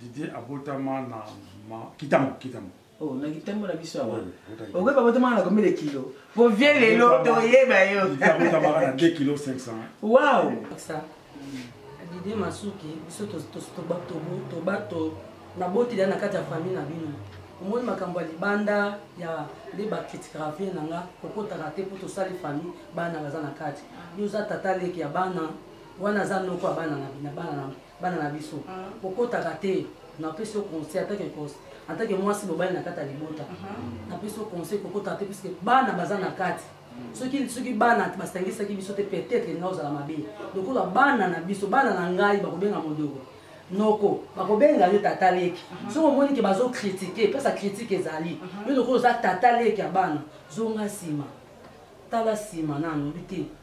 Didier abotama na ma kitamo kitamo. Oh, na kitamo na biso awa. Okoki babotama na combien de kilos? Po vieux lelo toyeba yo. Didier abotama na 2 kg 500. Wow. Ça. Didier Masuki, biso to to to ba to to ba to na boti na kati ya famille na bino. omoni makambo ya libanda ya nde bakritikaka vie na nga kokotaka te mpo tosali famille bana baza na kati yo oza tata leki ya bana wana aza noko ya bana na bana na bana na biso mhm. kokotaka te napesi yo conseil atake kose atake mwasi mobali na kati ya libota mhm. napesi yo conseil kokotaka te puiske bana baza na kati mhm. soki soki bana basangisaki biso te peut-être nga ozala mabe lokola bana na biso bana na ngai bakobenga modoko noko bakobenga yo tata leki soki omoni ke bazokritike mpesa kritike ezali yo lokola oza tata leki ya bana zonga nsima tala nsima nanu bi te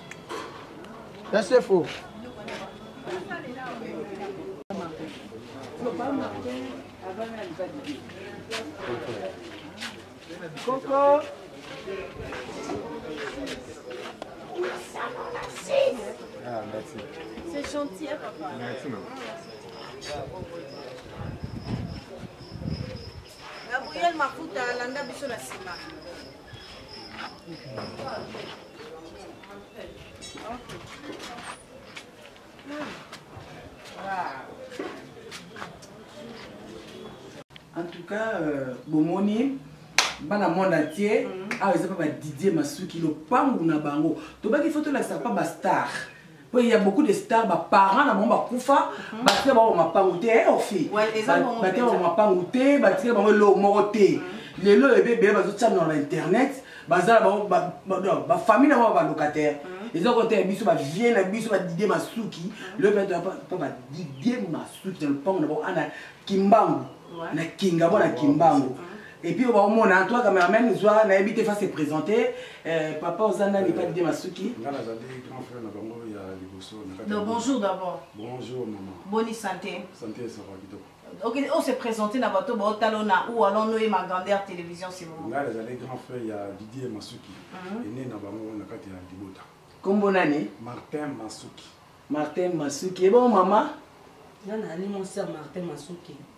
Ya sefo. Coco. Ah, merci. C'est gentil, hein, papa. Merci, maman. Gabriel Makuta, landa biso na sima. en tout cas euh, bomoni bana monde entier mhm. awa eza mpa badidie masuki lopangu na bango tobaki fo tolakisa mpa bastar po ya beaucoup de star ba parents na bango bakufa mhm. batika bango mapangu te eh, ofi batika bango mapangu te batika bango eloko moko te mhm. lelo oyo ebebele bazotiana na internet bazala bango bafamille na bango balocataire mhm. eza kota ya biso bavie na biso badidie masuki lelo mpe badidie masuki na lopango na bango ana kimbangu na kinga bona kimbangu Et puis on mona hein, toi cameraman zwa na habité face présenter euh, papa oza nani pas de masuki. Nga na zali grand frère na bango ya liboso na Donc bonjour d'abord. Bonjour maman. Bonne santé. Santé ça va kitoko. Ok, on s'est présenté na bato ba talona ou alors nous et ma grande télévision c'est bon. Nga na zali grand frère ya Didier Masuki. Mhm. Et né na bango na kati ya libota. Kombo nani? Martin Masuki. Martin Masuki. Et bon maman? Nga na ali mon sœur Martin Masuki.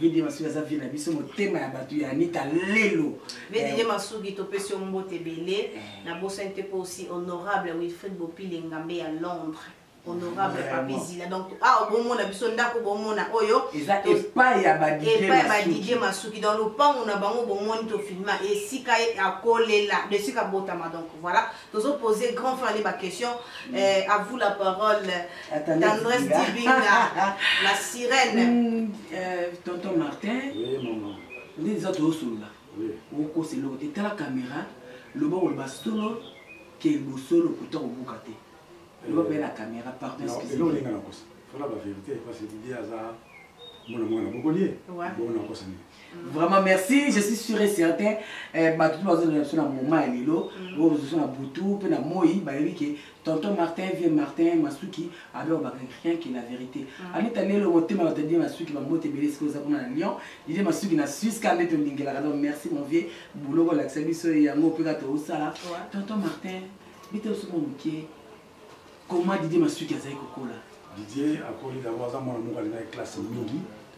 ye de masuki aza vie na biso motema ya bato ya anita lelo nede ye masuki topesi yo mbote ebele eh. nabosani te mpo aussi honorable wilfrid bopile ngambe ya londres honorable papi zila donc awa ah, bomona biso ndako bomona oyo eza epai ya badidie masuki donc lopango na bango bomoni tofilma esika akolela esika botama donc voilà tozo poser grand frère ba question mm. eh, à vous la parole tendresse dibinga la sirène mm. euh, tonton martin oui, maman. nde eza toyosolola okosa eloko te tala kamera loba koloba solo ke bosolo kuta kobuka te loba mpe na kamera pardon excuseinga nakosa fala bavérité parce que didi aza mwana mwana bokolie bona okosani vraiment merci je suis sûr et certain eh, bato mpe bazozela biso na moma ya lelo mm. oyo bazoso na butu mpe na moi bayebi ke tonton martin vie martin masuki alobaka rien que la vérité mm. anita lelo motema bato die masuki bambote ebele sikoyo oza kuna na lyon didie masuki na suisse ka nde tolingelaka donc merci mon vieux bouloko olakisa biso yango mpe ka toosala tonton martin bite osoko moke comment didie masuki azali kokola didie akoli dango aza mwana moko alingaki classe mingi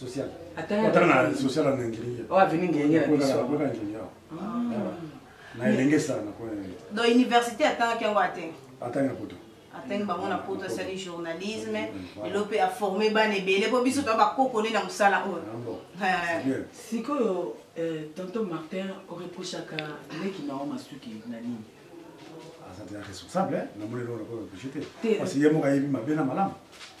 social ata na social na ngiri oyo aveni ngenge na biso nakoyaka ngiri awa na elenge sala nakoya donc université atangaki yango ate atangi na poto atangi bango na poto asali journalisme lelo mpe aforme bana ebele mpo biso toya bakoko nde na mosala oyo sikoyo tonton martin oreprochaka leki na yo masuki na nini aza te responsable na moni eloko nakoreproche te parce ye moko ayebi mabe na malamu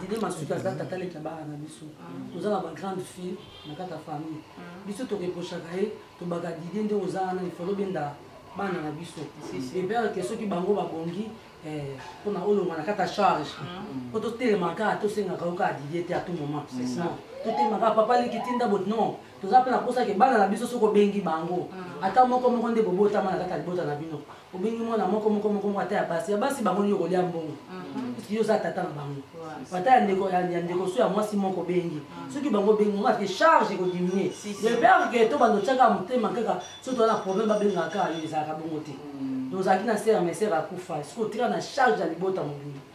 dide masuki aza tata leki ya bana na biso toza na bagrande fille na kati ya famille biso tokeposhaka ye tobaka dide nde oza wana ifalo benda bana na biso ebere ke soki bango babongi mpona eh, olonga na kati ya charge mpo totelemaka tosengaka yo kaka dide te a tout moment totelemaka papa leki tinda bot non toza mpe na mposa ke bana na biso soki obengi bango mm. ata moko moko nde bobotama na kati ya libota na bino obengi mwana moko moko moko moko ata ya basi ya basi bango nini okolia mbongo mm-hmm. puiske yo oza tata na bango ata ya ndeko ya ndeko so ya mwasi moko obengi mm. soki bango obengi ngo ake charge ekodiminue lepere ke to bando otyaka motema kaka soki toza na problème babengaka kaka yo ezalaka bongo te mm. donc ozalaki na sere mesere akufa soki otika na charge ya libota mobimba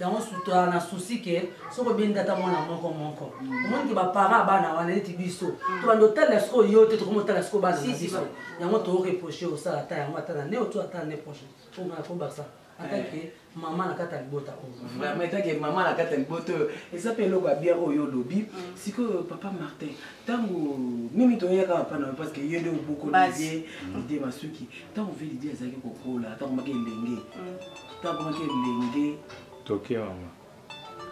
yango sutola na souci ke soki obendi ata mwana moko moko omoni ke baparent ya bana wana neti biso mm. tobanda otalela sikoyo yo te tokomi otalela sikoyo bana na biso yango toreproche osala ata yango ata na ne otu ata ne proche omana kobakisa atake eh. mama na kati ya libota oyo etake mama na kati ya libota oyo eza mpe eloko ya bien oyo olobi mm. sikoyo papa martin ntango mimi toyeyaka papa na yo parce que ye nde oboko lidie lidie masuki ntango ve lidie azalaki kokola ntango maki elenge mm. takomaki elenge toke mama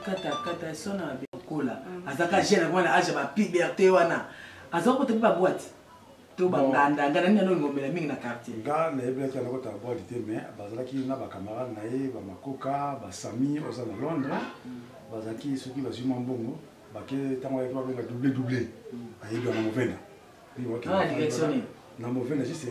katakata sona kola mm. azaka jeune wana age ba puberté wana aza ko tepa boîte to ba nganda nganda nini no ngomela mingi na quartier nga na yebi ka na ko ta boîte te mais bazalaki na ba camarades na ye ba makoka ba sami oza na Londres mm. bazalaki soki bazwi mwa mbongo bake ntango ayaki babenga double double mm. ayebi yango movenda ah, na movenda juste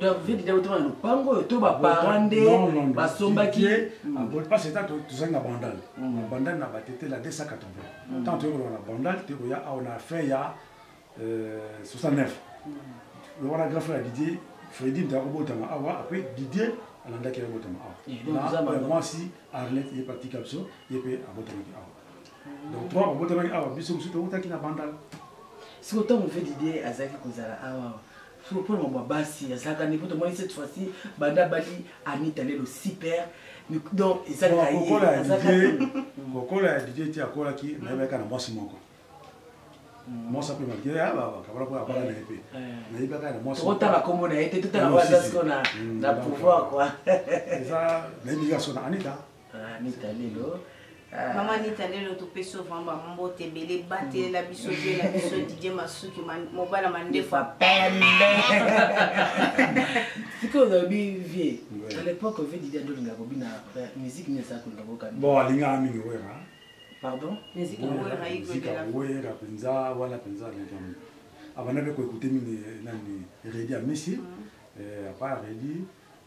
donc vie dida otoma na lopango oyo to baparent nde basombaki parce eta tozali na bandal na bandal na batete la 280 ntango toyei koloba na bandal toyei koya awa na fin ya 69 lokola grand frère ya didier fredi mpe akobotama awa apres didier alandaki abotama awa na mwasi arlette ye patika biso ye mpe abotamaki awa donc trois babotamaki awa biso mosusu tokutaki na bandal sikoyo ntango mpe didier azalaki kozala awa mpona mambo ya basi azalaka nde mpo tomoni cette fois-ci banda bali anita lelo super donc ezalaka yekokola ya didie ti akolaki nayebaka na mwasi moko mm. mwasi ape makie ah, bakabala mpo abala na ye mpe eh. nayebaka na mwasi tokotala nkombo na ye te totala waza siko na pouvoir kua eza nayebi yika so na anita Ah, Nita Lelo. Ah. Maman Nita Lelo, tu peux souvent ma mbote bele bate mm. la biso de la biso Didier Masuki mobala mandefu pembe. Siko olobi vie. À l'époque vie Didier Dolinga kobina musique ne sa ko ndoko kan. Bon alinga mingi wera. Pardon? Musique wera iko de la. Wera penza wala penza na jamu. Abana be ko écouter mini nani Redi Amisi. Mm. Eh, à part Redi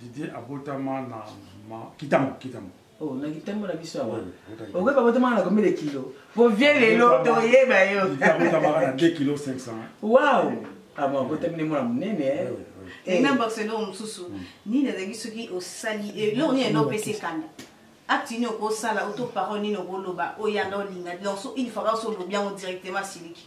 Didier abotama na ma kitamo kitamo. Oh, na kitamo na biso awa. Okoki babotama na combien de kilos? Po vieux lelo toyeba yo. Didier abotama na 2 kg 500. Wow. Ah bon, abotami ne mwana munene eh. Oui, oui. Et eh. na boxe eloko mosusu hmm. nini ezalaki soki osali eh, eloko nini ena opesi ekanda acte nini okosala oto parole nini okoloba oyanga olinga donc so une fois kaka so olobi yango directement asiliki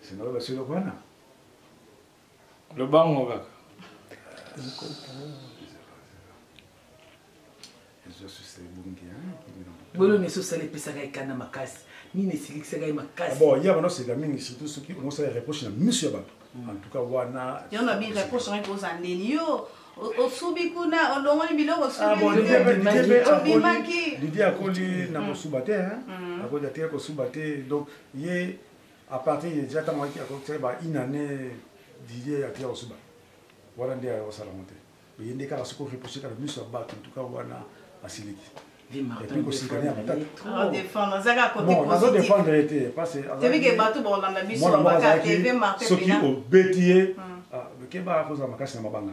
Sina oyo basilo kwana. Lobango kaka. bolo nyonso osala epesaka ekanda makasi nini esilikisaka ye makasi ah bon yaba noseka mingi surtout soki omosala reproche na miso ya bato mm. en tout cas wana yono bi reproche ngai koza ndeni yo osubi kuna olongoli biloko osubimaki lidi akoli na kosuba te akoli atika kosuba te donc ye à partir de déjà ntango ayaki akokisaki ba une année didier ya tia osuba wana nde ayokosala yango te oye nde kaka soki orepousse kaka miso ya bato ntuka wana asiliki epuis kosikana ya matataazodefendre ye te parcesoki obeti ye kebaka kozala makasi na mabanga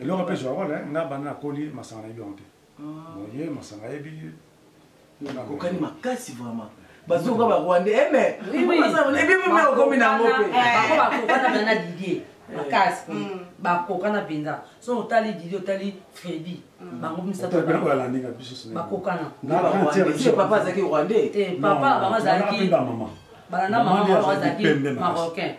eloko mpe zwa wana nga banda nakoli masanga nayebi yango te boye ah. masanga ayebi nakokani makasi vraiment bazoka barwande eme ebi mome okomi nango mpe bakokana na didie makasi bakokana mpenza so otali didie otali fredi Mm. bango misatopapa azalaki rwandais te papa bango azalaki bana na mama bango azalaki marocain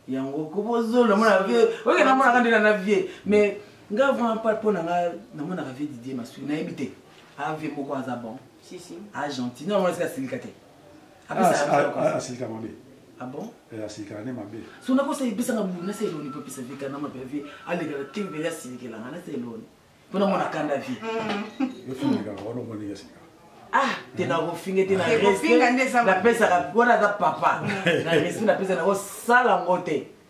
yango kobozolo mona vie oke namonaka nde na na vie mais nga vraiment pa mpo na nga namonaka vie didie masui nayebi te ave moko aza bon a gentil no amonasika asilika te asilika mabe ah bon eh, asilikaka nde mabe so nakosa ebisanga bubu nasa eloni mpo epesa vika na mabe vie alekaka te mpele asilikelanga nasa eloni mpo namona kanda vie efumikaka wana omoni ndenge asilikaka ah te nakofinga te napesaka wana aza papa na respect napesa nakosala ngo te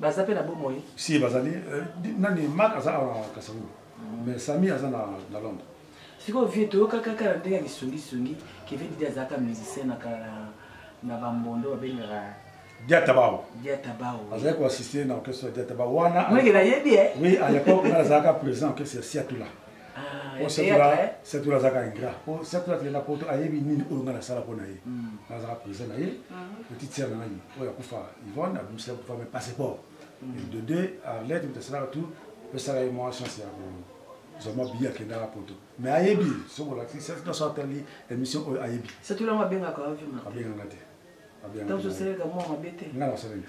baza mpe na bomoi si bazali euh, nani mak aza awa na kasango mm. mais sami aza na londres sikoyo vie toyokaka kaka na ndenge ya lisungisungi kevin didi azalaka musicien na na bambondo babengaka diatabao diatabao azali koassiste na orchestre ya diatabao wana mwenge nayebi e eh? oui à l'époque nazalaka président orchestre ya siatula po satula azaka ingra po satula akenda poto ayebi nini oyo ngai nasala mpo na ye nazaka président na ye petite sere na ngai oyo akufa yvonne abimisela kufa me passeport de deux arlete moto asalaka tout pesaka ye mwa chance ya kozwa mwa biye akendaka poto me ayebi soki olakisi satula so atali émission oyo ayebi satula yango abengaka abenganga te abenganga te ngai nasaleli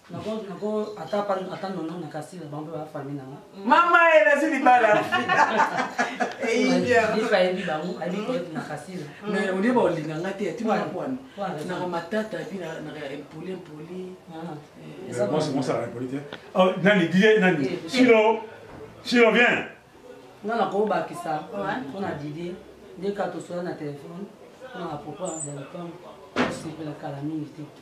mama ye nazi libala olie baolinga nga te ati mwana bwana naka matata epi naka impoli impoli nani die nani sino sino bien nga nakobakisa mpona didie nde katosola na telefone mpona apropos ya lopango osepela kala mingi te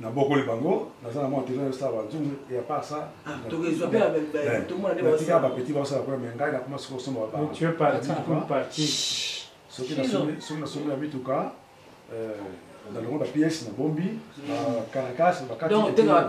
nabokoli bango naza na mwa tena yosala banzungu ya par ça natika bapeti basala kuna me ngai nakoma soki osomba soki nasombi na mituka na longo bapiese na bombi caracas bakativoila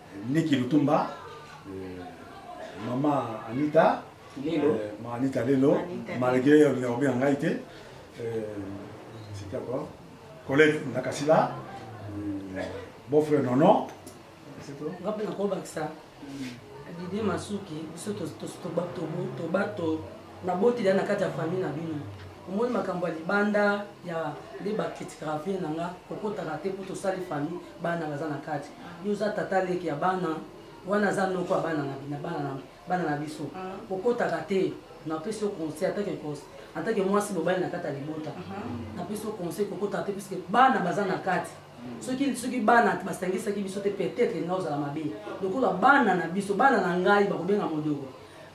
Niki Lutumba, euh, maman Anita, Lelo. Euh, maman Anita Lelo, Anita malgré le numéro bien en été, euh, c'était quoi Colette Nakasila, euh, beau-frère Nono, c'est tout. On va pas encore ça. Didier Masuki, biso to to to ba to to ba to na boti na kati ya famille na bino. Omoni makambo ya libanda ya nde bakritikaka vie na nga kokotaka te mpo tosali famille bana baza na kati yo oza tata leki ya bana wana aza noko ya bana na bina bana na bana na biso ah. okotaka te napesi yo conseil atake conseil atake mwasi mobali na kati ya libota ah. napesi yo conseil kokotaka te puiske bana baza na kati hmm. soki soki bana basangisaki biso te peut-être nga ozala mabe lokola bana na biso bana na ngai bakobenga modoko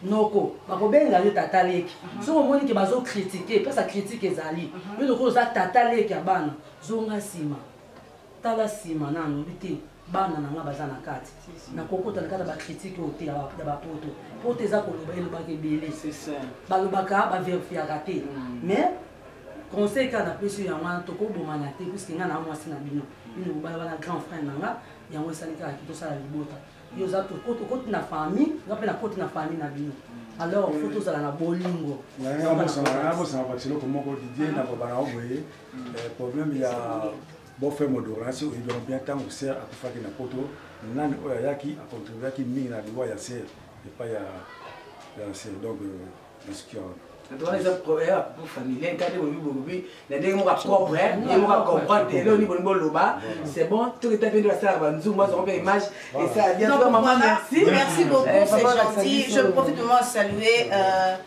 noko bakobenga yo tata leki ah. soki omoni ke bazokritike mpesa kritike ezali yo lokola oza tata leki ya bana zonga nsima tala nsima na alobi te bana na nga baza na kati nakokota na kati ya bakritike oyo te ya bapoto poto eza koloba elobaka ebele balobaka baverfiaka te mm. mais conseil kaka napesi yo yango wana tokobomana te puiske nga na mwasi na bino bino mobali wana grand frère na nga yango esali kaka ki tosala libota yo oza okoti na famille nga mpe nakoti na famille na bino alors fo tozala na bolingo nabosana batiloko moko didie nakobana oboye Eh, problème ya bofe modorance oyebi yango bien ntango ser akufaki na poto nani oyo ayaki acontribuaki mingi na liwa ya ser epai ya ya ser donc nasuki yango wana eza problème familial kati bobi bobi na ndenge moko acombre ye moko acomprendre te eloni bolingi boloba c'est bon toki ta pende basalaka banzungu bazoko mpe image esala bien mama merci merci beaucoup c'est gentil je profite de moi saluer euh,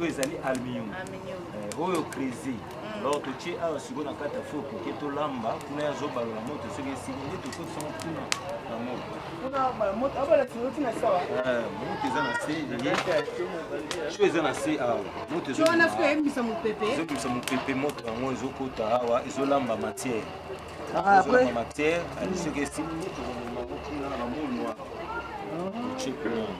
oyo ezali aluminium eh, oyo crese mm. alors totie awa sikoyo na kati ya fo koke tolamba kuna ya zobalola moto soki esili nde tokotisama kuna na moto eh, moto eza na se sho eza na se awa moto ezobimisa mopepe moto yango ezokota awa ezolamba matière ah, ezolamba matière soki esili nde tokomema kuna na bamolwa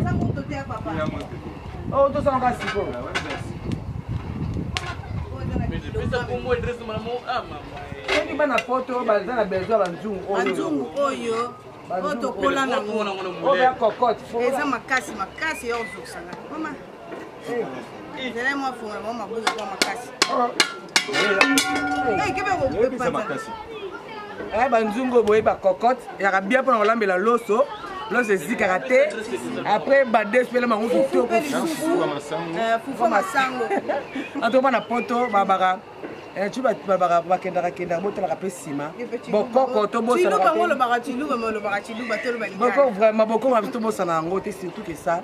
eza moto te ya papa oyo oh, tosala kaka sikoyo soki bana poto baza na besoin banzungu oyobanzungu oyo oyo tokola nango oyo ya cocote eza makasi makasi ya ozokisanga Zela mwa funga mwa mabuza kwa makasi. Eh, kebe ko pepa makasi. Eh, banzungo boye ba cocotte, yaka bien pona kolambela loso. Loso ezikaka te. Après ba deux pela mangu kitoko fufu. Eh, fufu masango. Ato bana poto babaka. Eh, tu vas babaka bakendaka kendaka botalaka pe sima. Bokoko to bosana. Tiluba ngolo baka tiluba molo baka tiluba telo ba. Bokoko vraiment bokoko bitu bosana yango te surtout que ça.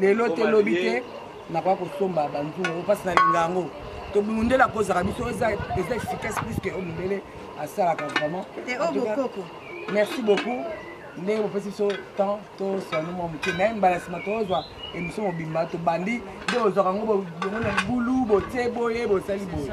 lelo te lobi te nakoya kosomba banzungu mpasi nalinga yango tobundela kozala biso eza efficace plus que oyo mindele asalaka vraiment oh, merci beaucoup ndenge bopesi biso temps tosanu mwa moke naye mbala nsima tozwa émission mobimba tobandi nde ozwaka yango bongo na libulu botie boye bosali boye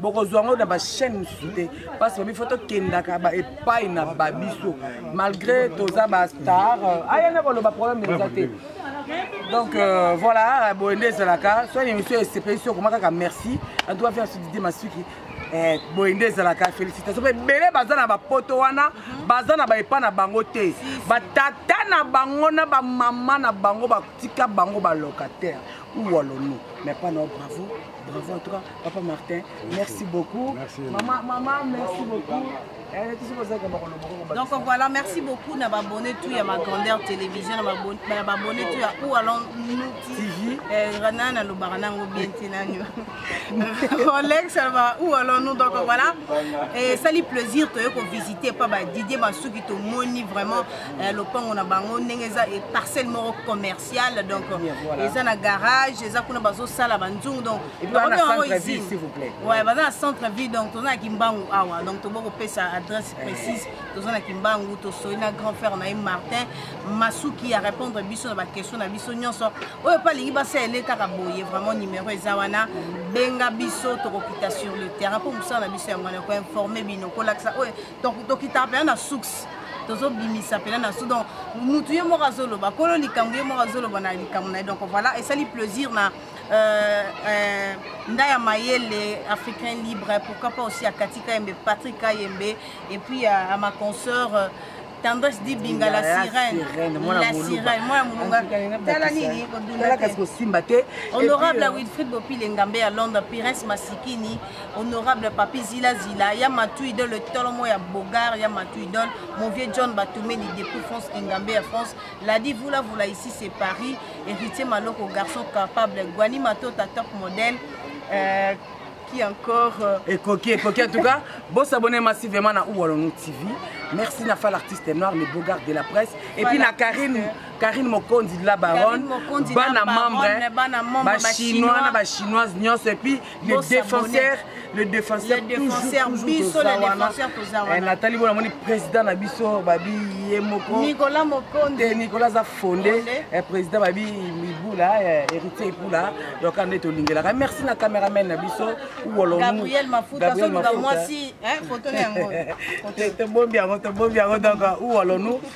bokozwa yango na bachaine mosusu te mpasi babi fo tokendaka epai na babiso malgré toza bastar euh, aya na koloba problème eza te donc euh, voilà boye nde ezalaka soit émission esepelisi okoma kaka merci en tout cas faire sudité masuki eh, boye nde ezalaka félicitation mpe ebele baza na bapoto wana baza na baepa na bango te batata na bango na bamama na bango batika bango balocataire ou walono mais pas nao bravo Bravo en tout cas, Papa Martin, merci, merci beaucoup. Merci. Maman, maman, merci beaucoup. Eh, Donc voilà, merci beaucoup na abonné tout ya ma grandeur télévision na abonné tout ya ou alors nous TV eh, rana na lobara nango bien te nani Rolex alobaka ou alors nous donc voilà et ça lui plaisir toye ko visiter pa ba Didier Masuki tomoni vraiment eh, lopango na bango ndenge eza parcelle moko commerce commercial donc eza na garage eza kuna bazosala banzungu donc baza na centre ville donc toza na kimbangu awa donc tobo kopesa adresse eh. précise toza na kimbangu tosoli na grand frère na ye martin masuki ya répondre biso na baquestion na biso nyonso oyo mpe alingi basalele kaka boye vraiment numéro eza wana benga biso tokokita sur le terrain mpo mosala na biso yango wana koinforme bino kolakisa oyo donc tokitaka mpena na source tozobimisa mpena na source donc mutu ye moko azoloba kolo likambo ye moko azoloba na likambo na ye donc voilà esali plaisir na euh, euh, ndaya mayele africain libre pourquoi pas aussi akati kayembe patrick kayembe et puis à, à ma consoeur euh, tendresse di binga la sirène la sirène mwana molunga tala nini kodundate honorable wilfrid bopile ngambe ya londres pires masikini honorable papi zila zila ya matu idole tolo mo ya bogar ya matu idole mon vieux john batumeli depuis france engambe ya france ladi vula vula ici c'est paris héritier maloko garçon capable guani matota top modèle euh, qui encore euh... ekoki ekoki en tout cas bosabone massivement na uwalonu tv merci na fa l'artiste noir le beau garde de la presse et puis na karine karine mokonzi de la baronne bana membre bachinois na bachinoise nyonso et puis le défenseur le défenseur le défenseur biso le défenseur toza eh, wana natali bona moni président na biso babi ye moko Nicolas Mokonde te Nicolas aza fondé eh, président babi Mibula eh, héritier Ipula donc ande tolingelaka merci na cameraman na biso wolo Gabriel Mafuta so nga mwasi hein photo na yango te bombi yango te bombi yango donc wolo nous